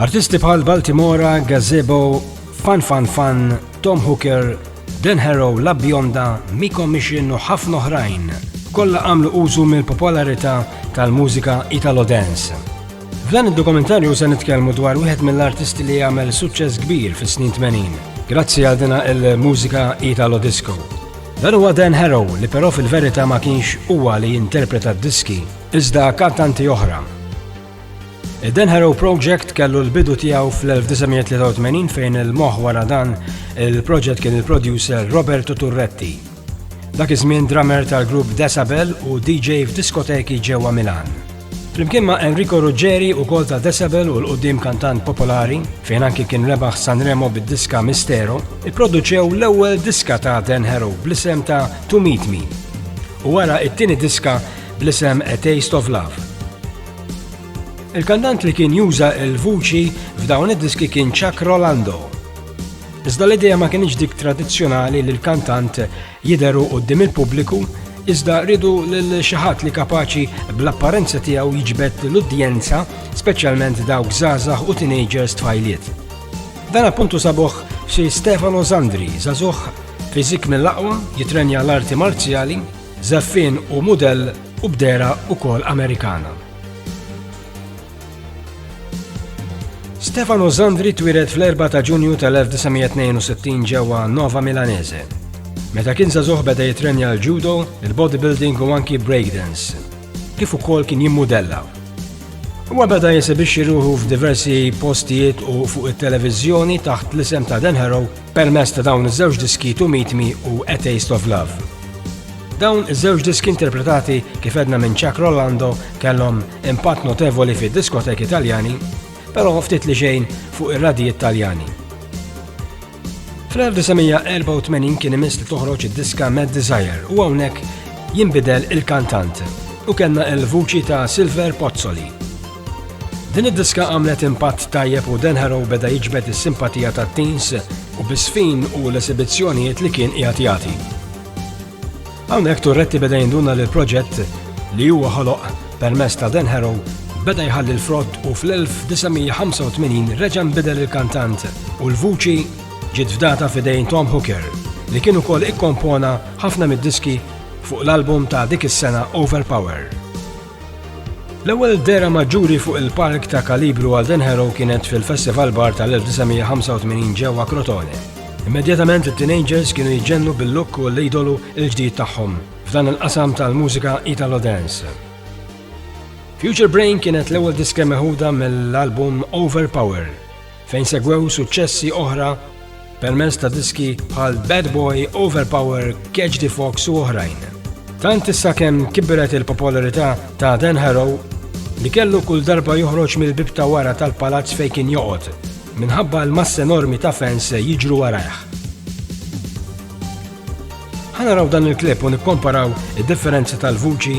Artisti bħal Baltimora, Gazebo, Fan Fan Fan, Tom Hooker, Dan Harrow, La Bionda, Miko Mission u ħafna oħrajn kollha għamlu użu mill-popolarità tal-mużika Italo Dance. F'dan id-dokumentarju se nitkellmu dwar wieħed mill-artisti li għamel suċċess kbir fis-snin 80, grazzi għal dina il-mużika Italo Disco. Dan huwa Dan Harrow li però fil-verità ma kienx huwa li jinterpreta d-diski, iżda kantanti oħra Dan Harrow Project kellu l-bidu tiegħu fl-1983 fejn il-moħ wara dan il-proġett kien il-producer Roberto Turretti. Dak iż-żmien drummer tal-grupp Decibel u DJ f'diskoteki ġewwa Milan. Flimkien ma' Enrico Ruggeri u kol ta' Decibel u l-qoddim kantant popolari, fejn anki kien rebaħ Sanremo bid-diska Mistero, ipproduċew l-ewwel diska ta' Dan Harrow bl-isem ta' To Meet Me. U wara it-tieni diska bl-isem A Taste of Love. Il-kandant li kien juża il-vuċi f'dawn id-diski kien Chuck Rolando. Iżda l-idea ma kienx dik tradizzjonali li l-kantant jideru qoddim il-pubbliku, iżda rridu lil xi ħadd li kapaċi bl-apparenza tiegħu jiġbed l-udjenza, speċjalment dawk żgħażagħ u teenagers tfajliet. Dan appuntu sabuħ xi Stefano Zandri, zazuħ fizik mill-aqwa, jitrenja l-arti marzjali, Żaffien hu mudell u b'dehra wkoll Amerikana. Stefano Zandri twieled fl-4 ta' Ġunju tal-1962 ġewwa Nova Milanese. Meta kien żagħżugħ beda jitrenja l-judo, il-bodybuilding u anki breakdance, kif ukoll kien jimmudella. Huwa beda jesibixxi ruħu f'diversi postijiet u fuq it-televiżjoni taħt l-isem ta' Dan Harrow Permezz ta' dawn iż-żewġ diski To Meet Me u A Taste of Love. Dawn iż-żewġ diski interpretati kif edna minn Chuck Rolando kellhom impatt notevoli fid-diskoteki Taljani, però ftit li xejn fuq ir-radijiet Taljani. Fl-1984 kien imiss li toħroġ id-diska Mad Desire u hawnhekk jinbidel il-kantant u kellna il-vuċi ta' Silver Pozzoli. Din id-diska għamlet impatt tajjeb u Dan Harrow beda jiġbed is-simpatija ta' teens u bisfin u l-esibizzjonijiet li kien qiegħed jagħti. Hawnhekk Turretti beda jinduna li l-proġett li huwa ħoloq permess ta' Dan Harrow beda jħalli l-frott u fl-1985 reġa' nbidel il-kantant u l-vuċi ġiet fdata fidejn Tom Hooker li kien ukoll ikkompona ħafna mid-diski fuq l-album ta' dik is-sena Overpower. L-ewwel dehra maġġuri fuq il-palk ta' kalibru għal Dan Harrow kienet fil-Festival Bar tal-1985 ġewwa Crotone. Immedjatament it-teenagers kienu jġennu bil-look u l-idolu il-ġdid tagħhom f'dan il-qasam tal-mużika Italo Dance. Future Brain kienet l-ewwel diska meħuda mill-album Overpower fejn segwew suċċessi oħra permezz ta' diski bħal Bad Boy, Overpower, Catch the Fox u oħrajn. Tant issa kemm kibret il-popolarità ta' Dan Harrow li kellu kull darba joħroġ mill-bib ta' wara tal-palazz fejn kien joqgħod minħabba l-mass enormi ta' fans jiġru warajh. Ħanaraw dan il-klip u nikkomparaw id-differenzi tal-vuċi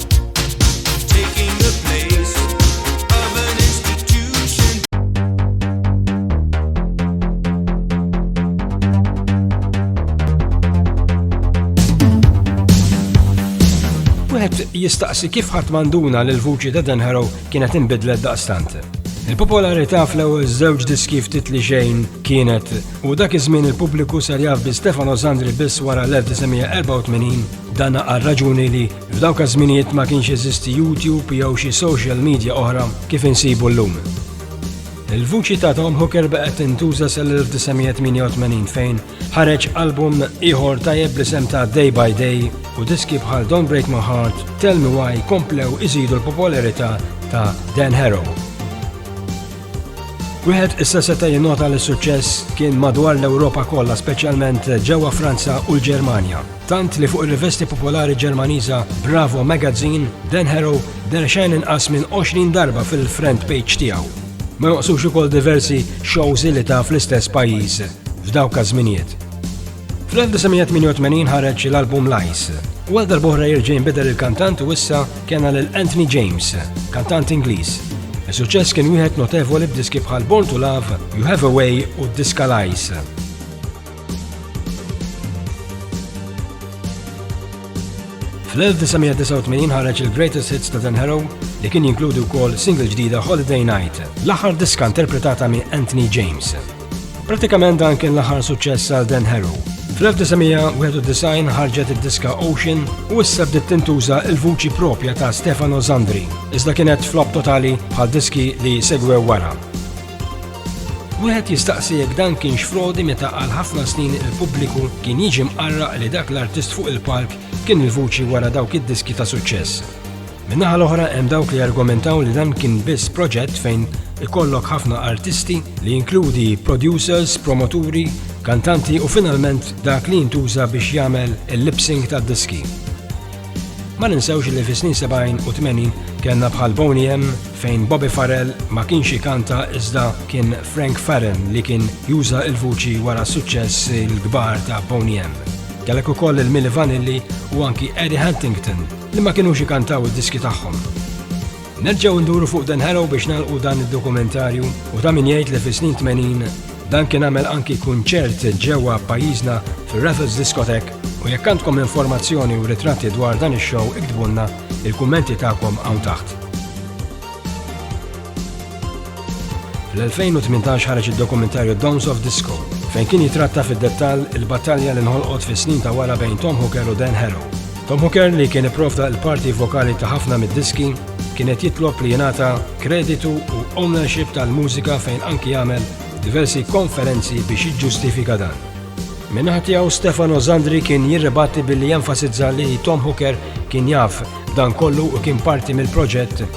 jistaqsi kif ħadd manduna li l-vuċi ta' Dan Harrow kienet inbidlet daqstant. Il-popolarità fl-ewwel żewġ diski ftit li xejn kienet u dak iż-żmien il-pubbliku ser jaf bi Stefano Zandri biss wara 1984 dana għal raġuni li F'dawk iż-żminijiet ma kienx jeżisti YouTube jew xi social media oħra kif insibu llum. Il-vuċi ta' Tom Hooker baqgħet tintuża sal-1988 fejn ħareġ album ieħor tajjeb bl-isem ta' Day by Day u diski bħal Don't Break My Heart, Tell Me Why komplew iżidu l-popolarità ta' Dan Harrow. Wieħed issa seta' jinnota li suċċess kien madwar l-Ewropa kollha, speċjalment ġewwa Franza u l-Ġermanja. Tant li fuq ir-rivesti popolari Ġermaniża Bravo Magazine, Dan Harrow der xejn inqas minn 20 darba fil-front page tiegħu. Ma joqsux ukoll diversi shows li ta' fl-istess pajjiż f'dawk każ-żminijiet. Fl-1988 ħareġ l-album Lice, u għal darbohra jirġa' jinbidel il-kantant u issa kena lil Anthony James, kantant Ingliż. Is-suċċess kien wieħed notevoli b'diski bħal Born to Love, You Have a Way u Diska Lice. Fl-1989 ħareġ il-Greatest Hits ta' Dan Harrow li kien jinkludi wkoll single ġdida Holiday Night, l-aħħar diska interpretata minn Anthony James. Pratikament dan kien l-aħħar suċċess għal Dan Harrow. Fl-1991 ħarġet id-diska Ocean u issa bdiet tintuża il-vuċi propja ta' Stefano Zandri, iżda kienet flop totali bħal diski li segwew wara. Wieħed jistaqsi jekk dan kienx frodi meta għal ħafna snin il-pubbliku kien jiġi mqarraq li dak l-artist fuq il-palk kien il-vuċi wara dawk id-diski ta' suċċess. Min-naħa l-oħra hemm dawk li jargumentaw li dan kien biss proġett fejn ikollok ħafna artisti li jinkludi producers, promoturi, kantanti u finalment dak li jintuża biex jagħmel il-lip sync tad-diski. Ma ninsewx li fis-snin 70 u 80 kellna bħal Boney M fejn Bobby Farrell ma kienx ikanta iżda kien Frank Farren li kien juża il-vuċi wara suċċess il-kbar ta' Boney M. Kellek ukoll il-Milli Vanilli u anki Eddie Huntington li ma kienux ikantaw id-diski tagħhom. Nerġgħu nduru fuq Dan Harrow biex nagħlqu dan id-dokumentarju u ta' min jgħid li fis-snin 80 dan kien għamel anki kunċert ġewwa pajjiżna fir-Raffles Discotheque u jekk għandkom informazzjoni u ritratti dwar dan ix-show iktbulna il-kummenti tagħkom hawn taħt. Fl-2018 ħareġ id-dokumentarju Dawns of Disco, fejn kien jitratta fid-dettall il-battalja li nħolqot fis-snin ta' wara bejn Tom Hooker u Dan Harrow. Tom Hooker, li kien ipprovda l-parti vokali ta' ħafna mid-diski, kien qed jitlob li jingħata kreditu u ownership tal-mużika fejn anki għamel diversi konferenzi biex jiġġustifika dan. Minnaħat tiegħu Stefano Zandri kien jirribatti billi jenfasizza li Tom Hooker kien jaf dan kollu u kien parti mill-proġett